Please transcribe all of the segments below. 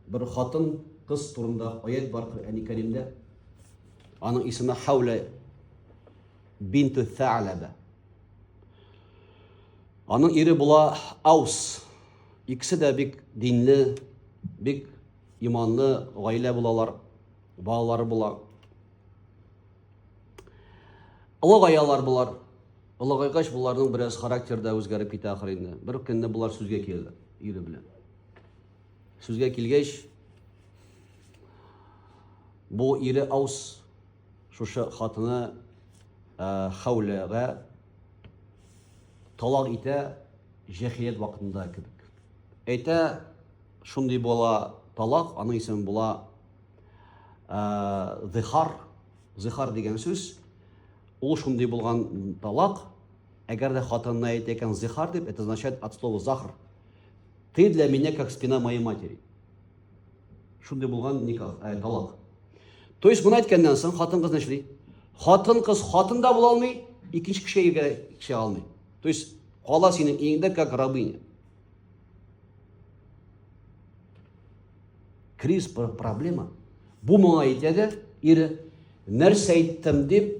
бер хатын кыз турында аят бар Коръәни Кәримдә. Аның исеме Хаула бинту Сәләбә. Аның ире була Аус. Икесе дә бик динле, бик иманлы гаилә булалар, балалары була. Олы гаялар булар. Олыгайгач, боларның бераз характер да үзгәреп китә ахыр инде. Бер көнне болар сүзгә килде ире белән. Сүзгә килгәч, бу ире аус шушы хатыны ә, хәүләгә талак итә җәхилет вакытында кебек. Әйтә, шундый була талак, аның исеме була ә, зихар. Зихар дигән сүз, ул шундый булган талак, әгәр дә хатынына әйтә икән зихар дип, это означает от слова захар. Ты для меня как спина моей матери. Шундый булган никах, ә, талак. То есть моны әйткәннән соң хатын кыз нишли? Хатын кыз хатын да була алмый, икенче кешегә кеше алмый. То есть кала синең иңдә как рабыня. Кризис проблема. Бу моңа әйтә дә, ире, нәрсә әйттем дип,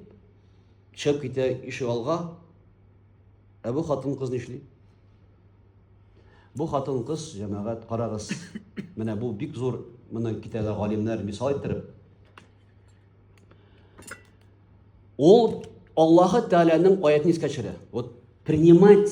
чыгып китә ишек алга. Ә бу хатын кыз нишли? Бу хатын кыз, җәмәгать, карагыз. Менә бу бик зур, моны китәлә галимнәр мисал иттереп. Ул Аллаһы Тәгаләнең аятен искә төшерә. Вот принимать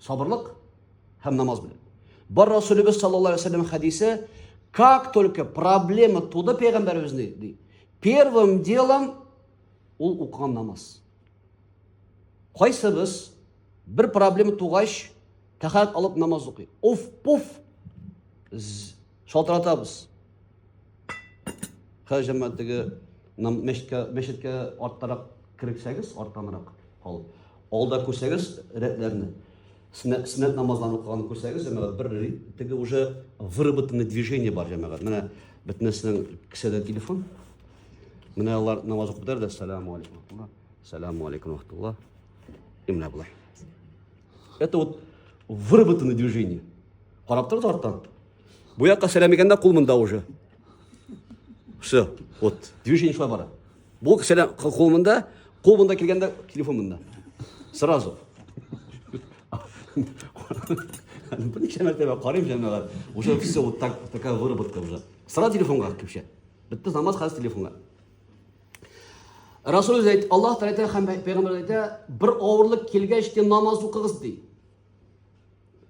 Сабырлык һәм намаз белән. Бар Расулебез саллаллаһу алейхи вәсәлләм хәдисе, как только проблема туды пәйгамбәребезне, ди, первым делом ул укыган намаз. Кайсыбыз бер проблема тугач, тәхәрәт алып намаз укый. Уф, пуф. шалтыратабыз хәл җәмәгатеге мәчеткә мәчеткә арттарак керексәгез арттанрак ал алда күрсәгез рәтләрне сөннәт сөннәт намазларын укыган күрсәгез җәмәгать бер теге уже выработанный движение бар җәмәгать менә бөтенесенең кесәдә телефон менә алар намаз укып бетәр дә сәлам алейкум сәлам алейкум рахматулла и менә болай Это вот выработанное движение. Карап торды арттан. Бу якка сәләмегәндә кул монда уже. Все. Вот. Движение шулай бара. Бу сәләм кул монда, кул монда килгәндә телефон монда. Сразу. Бу ничә мәртәбә карыйм җәмәгать. Уже все вот так такая выработка уже. Сразу телефонга кепшә. Бетте намаз хәзер телефонга. Расул үзе әйтә, Аллаһ Тәгалә әйтә һәм пәйгамбәр әйтә, бер авырлык килгәч тә намаз укыгыз ди.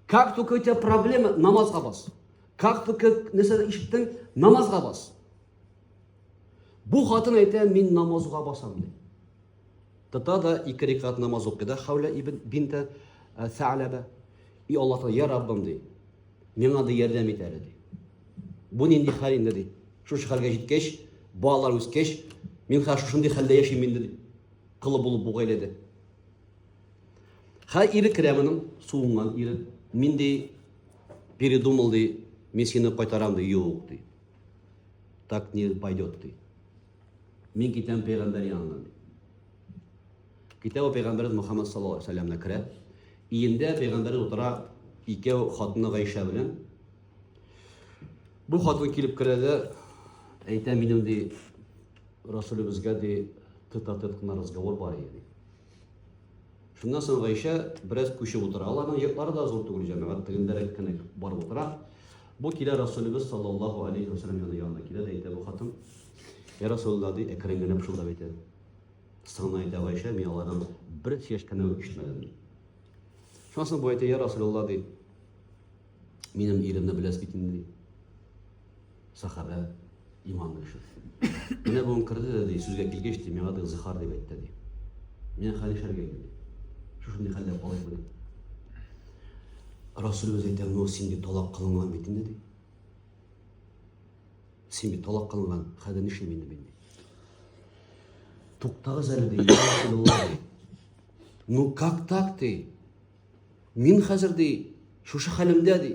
Как только у тебя проблема, намазга бас. Как только нәрсә ишеттең, намазга бас. Бу хатын әйтә, мин намазга басам ди. Тата да ике рикат намаз укый да Хәүлә ибн бинтә Сәләбә. И Аллаһ Тәгалә, я Раббым ди. Миңа да ярдәм ит әле ди. Бу нинди хәл инде, ди. Шушы хәлгә җиткәч, балалар үскәч, мин хәзер шушындый хәлдә яшим инде, ди. Колы булып бу гаиләдә. Хәзер ире керә моның, суынган ире. Мин ди, передумал ди, мин сине кайтарам ди, юк ди. Так не пойдет ди. Мин китәм пәйгамбәр янына ди. Китә ул пәйгамбәрбез Мухаммад саллаллаху алейхи ва сәлләмне керә. Иендә пәйгамбәрбез утыра, икәү хатыны Гайшә белән. Бу хатын килеп керә дә, әйтә минем ди, Расулебезгә ди, тет-а-тет кына разговор бар иде ди. Шуннан соң Гайшә бераз күчеп утыра. Аларның йортлары да зур түгел, җәмәгать тегендәрәк кенә бар утыра. Бу килә Расулебез саллаллаху алейхи ва саллям янына килә дә әйтә бу хатын. Я Расулуллаһ ди, әкрен генә пышылдап әйтә. Соңына әйтә Гайшә, мин алардан бер чәшкәне ишетмәдем. Шуннан соң бу әйтә, я Расулуллаһ ди, Минем иремне беләс бит инде. Сахабә иман кеше. Менә бу керде дә ди, сүзгә килгәч ди, миңа да зихар дип әйтте ди. Мин хәл ишәргә инде. Шушындый хәлдә калып бу. Расулыбыз әйтә, "Ну, син ди талак кылынган бит инде" ди. Син бит талак кылынган, хәзер нишлим инде мин ди. Туктагыз әле ди, Расулыбыз. Ну, как так ты? Мин хәзер, ди, шушы хәлемдә, ди.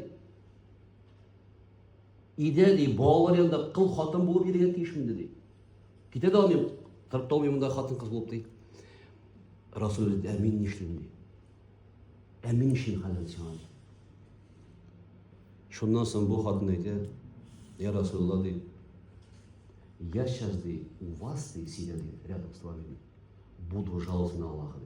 Өйдә, ди, балалар янында кыл хатын булып йөрергә тиешмен, ди. Китә дә алмыйм, торып та алмыйм монда хатын кыз булып, ди. Расул ди, ә мин нишлим, ди. Ә мин нишлим хәзер сиңа? Шуннан соң бу хатын әйтә, я Расулла, ди, я сейчас, ди, у вас, ди, сидя, ди, рядом с вами, ди, буду жаловаться на Аллаха, ди.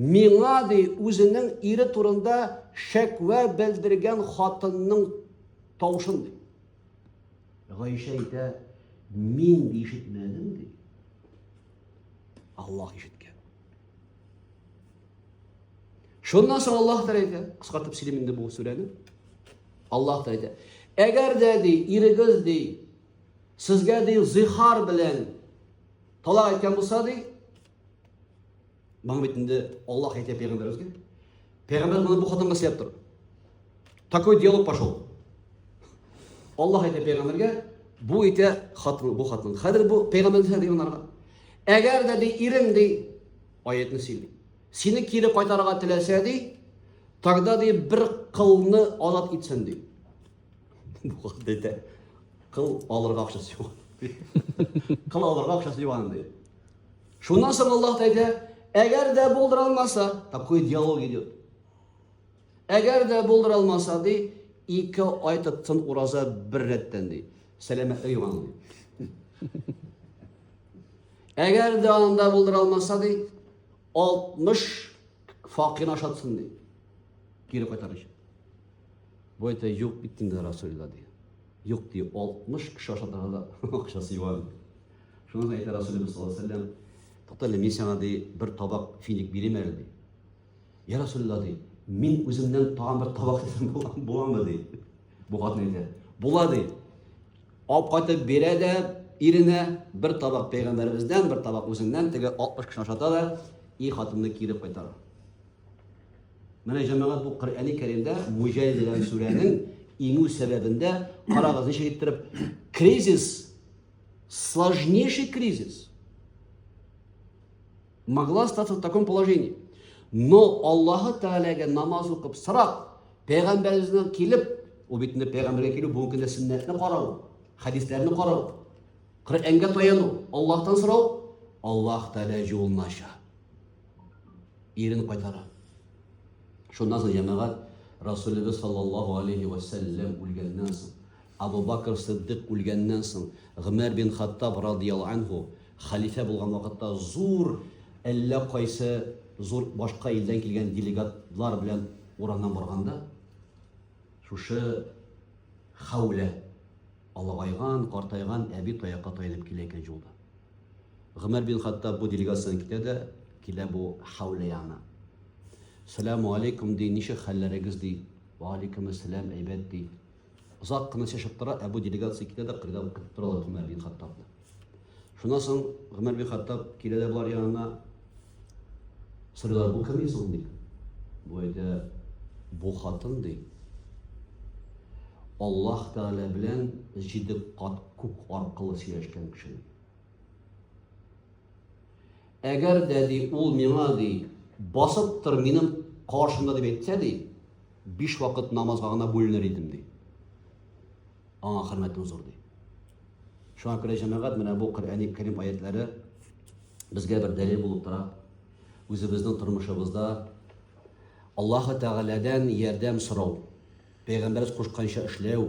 Миңа, ди, үзенең ире турында шәкъвә белдергән хатынның тавышын, ди. Гайшә әйтә, мин ди ишетмәдем, ди. Аллаһ ишеткән. Шуннан соң Аллаһ та әйтә, кыскартып сөйлим инде бу сүрәне. Аллаһ та әйтә, әгәр дә ди, ирегез ди, сезгә ди зихар белән талак әйткән булса ди, Моны бит инде Аллаһ әйтә пәйгамбәребезгә. Пәйгамбәр моны бу хатынга сөйләп тор. Такой диалог пошел. Аллаһ әйтә пәйгамбәргә, бу әйтә хатын, бу хатын. Хәзер бу пәйгамбәр һәр янарга. Әгәр дә ди ирең ди аятны сөйли. Сине кире кайтарырга теләсә ди, тогда ди бер кылны алат итсен ди. Бу хатын әйтә. Кыл алырга акчасы юк. Кыл алырга акчасы юк ди. Шуннан соң Аллаһ әйтә, әгәр дә булдыра алмаса, такой диалог идет. Әгәр дә булдыра алмаса, ди, ике ай тотсын ураза бер рәттән, ди. Сәламәтлек юган, ди. Әгәр дә анда булдыра алмаса, ди, 60 факин ашатсын, ди. Кире кайтарыш. Бу әйтә, юк бит инде Расулла, ди. Юк, ди, 60 кеше ашатырга да акчасы юган. Шуңа да әйтә Расулебез саллаллаһу алейһи вәсәлләм, Тукта әле, мин сиңа ди, бер табак финик бирим әле ди. Я Расулулла ди, мин үземнән тагын бер табак итсәм буламы ди. Бу хатын әйтә, була ди. Алып кайтып бирә дә иренә бер табак пәйгамбәребездән, бер табак үзеннән, теге 60 кеше ашата да, и хатынны кире кайтара. Менә җәмәгать бу Коръәни Кәримдә Муҗаһид дигән сүрәнең иңү сәбәбендә карагыз ничек иттереп кризис сложнейший кризис могла остаться в таком положении. Но Аллаһы Тәгаләгә намаз укып сорап, пәйгамбәребезнән килеп, ул бит инде пәйгамбәргә килү бүгенге көндә сөннәтне карау, хәдисләрне карау, Коръәнгә таяну, Аллаһтан сорау, Аллаһ Тәгалә юлына аша. Ирен кайтара. Шуннан соң җәмәгать Расулыбыз саллаллаһу алейхи ва сәлләм үлгәннән соң Абу Бакр Сыддыйк үлгәннән соң, Гомәр бин Хаттаб радыйяллаһу әнһү хәлифә булган вакытта зур әллә кайсы зур башка илдән килгән делегатлар белән урамнан барганда, шушы Хәүлә, олыгайган, картайган әби таякка таянып килә икән җулда. Гомәр бин Хаттаб бу делегациян китә дә, килә бу Хәүлә янына. Сәләму алейкум ди, ничек хәлләрегез ди. Вә алейкүмәссәләм, әйбәт ди. Озак кына чәчеп тора, ә бу делегация китә дә кырда укып торалар Гомәр бин Хаттабны. Шуннан соң Гомәр бин Хаттаб килә дә болар янына. Сорыйлар, бу кем соң ди? Бу әйтә, бу хатын ди. Аллаһ Тәгалә белән җиде кат күк аркылы сөйләшкән кеше. Әгәр дә ди ул миңа ди басып тор минем каршымда дип әйтсә ди, Биш вакыт намазга гына бүленер идем, ди. Аңа хөрмәтем зур, ди. Шуңа күрә җәмәгать менә бу Коръәни Кәрим аятлары безгә бер дәлил булып тора. Үзебезнең тормышыбызда Аллаһы Тәгаләдән ярдәм сорау, пәйгамбәребез кушканча эшләү,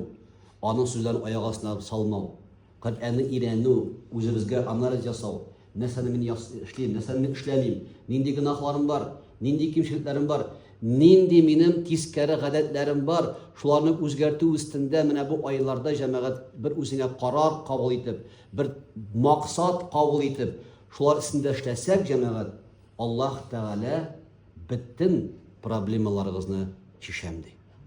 аның сүзләрен аяк астына салмау. Коръәнне өйрәнү, үзебезгә анализ ясау, нәрсәне мин эшлим, нәрсәне мин эшләмим, нинди гөнаһларым бар, нинди кимчелекләрем бар, нинди минем тискәре гадәтләрем бар, шуларны үзгәртү өстендә менә бу айларда җәмәгать бер үзеңә карар кабул итеп, бер максат кабул итеп, шулар өстендә эшләсәк, җәмәгать, Аллаһ Тәгалә бөтен проблемаларыгызны чишәм ди.